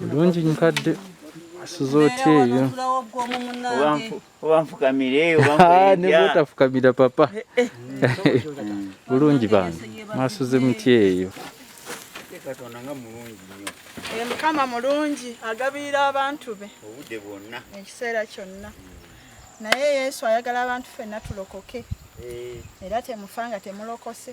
bulungi nkadde asuza otya eyo obanfukamiraobanfukamira papa eh, eh. bulungi bange mwasuze muty eyo katonda nga mulungi nnyo eh, mukama mulungi agabiira abantu be obudde bwonna ekiseera kyonna naye yesu ayagala abantu fenna tulokoke era temufa nga temulokose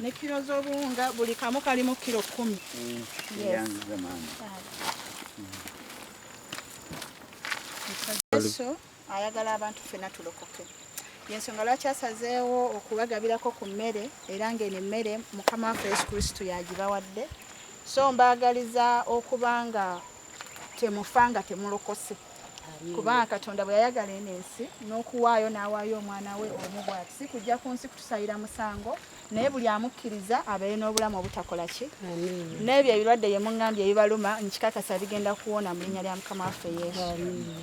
ne kiro z'obuwunga buli kamu kalimu kiro kumi yesu ayagala abantu ffena tulokoke yensonga lwaki asazeewo okubagabirako ku mmere era ng'eno emmere mukama waffe yesu kristo yagibawadde so mbaagaliza okuba nga temufa nga temulokose kubanga katonda bwe yayagala eno ensi n'okuwaayo n'awaayo omwana we omu bwati si kujja ku nsi kutusayira musango naye buli amukkiriza abeere n'obulamu obutakola ki n'ebyo ebirwadde ye muŋŋambye ebibaluma nkikakasa bigenda kuwona mu linnya lya mukama waffe yesu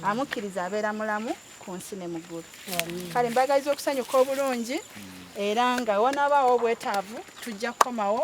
amukkiriza abeera mulamu ku nsi ne muggulu kale mbagaliza okusanyuka obulungi era nga wanaabaawo obwetaavu tujja kukomawo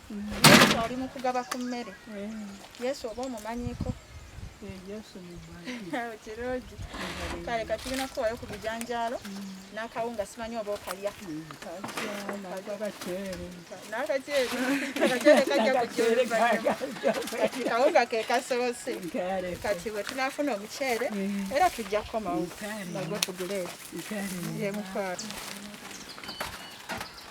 Yesu ali mu kugaba ku mmere. Yesu oba omumanyiko? kirungi kale kati tulina kukuwayo ku bijanjaalo n'akawunga simanyi oba okalya kawunga ke kasoose kati bwe tunaafuna omuceere era tujja kukomawo nagwe tuguleeta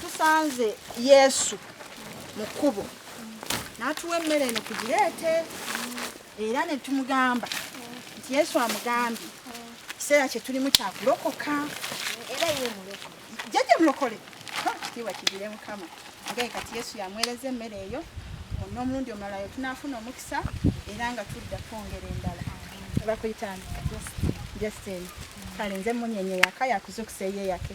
tusanze yesu mu kkubo n'atuwa emmere eno kugireete era ne tumugamba nti yesu amugambye ekiseera kye tulimu kyakulokoka era ye mulokole jjajja mulokole kitiibwa kigire mukama agaye kati yesu yamuweereza emmere eyo n'omulundi omulala yo tunaafuna omukisa era nga tudda twongera endala bakuyitani justin kale nze munyenye yaka yakuzukusa eyeyake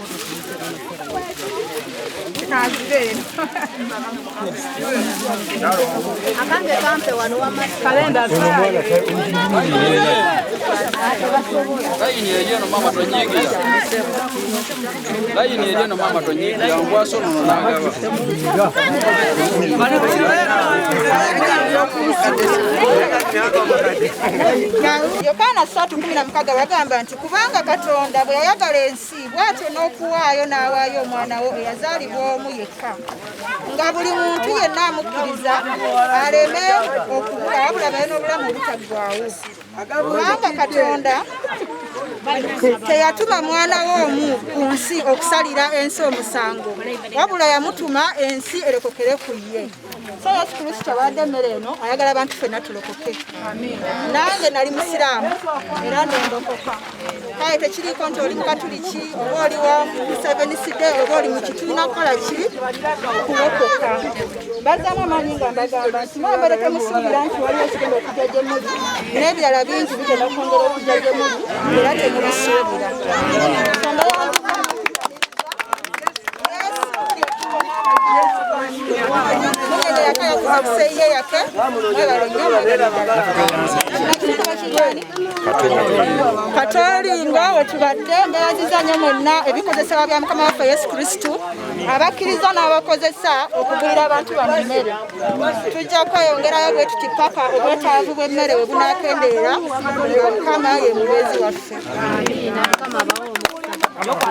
yokaana satu kumi na mukaga yagamba nti kubanga katonda bwe yayagala ensi bwatyo n'okuwaayo n'awaayo omwana wo eyazaalibwa omu yekka nga buli muntu yenna amukkiriza aleme okubula wabula baye n'obulamu obutaggwawo kubanga katonda teyatuma mwana we omu ku nsi okusalira ensi omusango wabula yamutuma ensi erekokere ku ye so yesu kristo awadde emmere eno ayagala abantu fenna tulokoke nange nali musiraamu era nendokoka kale tekiriko nti oli mukatuliki oba oli wa museveni side oba oli muki tulina kukola ki kulokoka bazamu amaanyi nga mbagamba nti mwambere temusuubira nti waliwo ekigenda okujja gye muli n'ebirala bingi bigenda kwongera okujja gye muli era temubisuubira katoolinga wetubadde mbeeraziza nyo mwenna ebikozesebwa bya mukama waffe yesu kristu abakkiriza n'abakozesa okugulira abantu bano emmere tujja kweyongerayo bwe tuti paka obwetaavu bw'emmere we bunakendeera nga mukama ye mubeezi waffe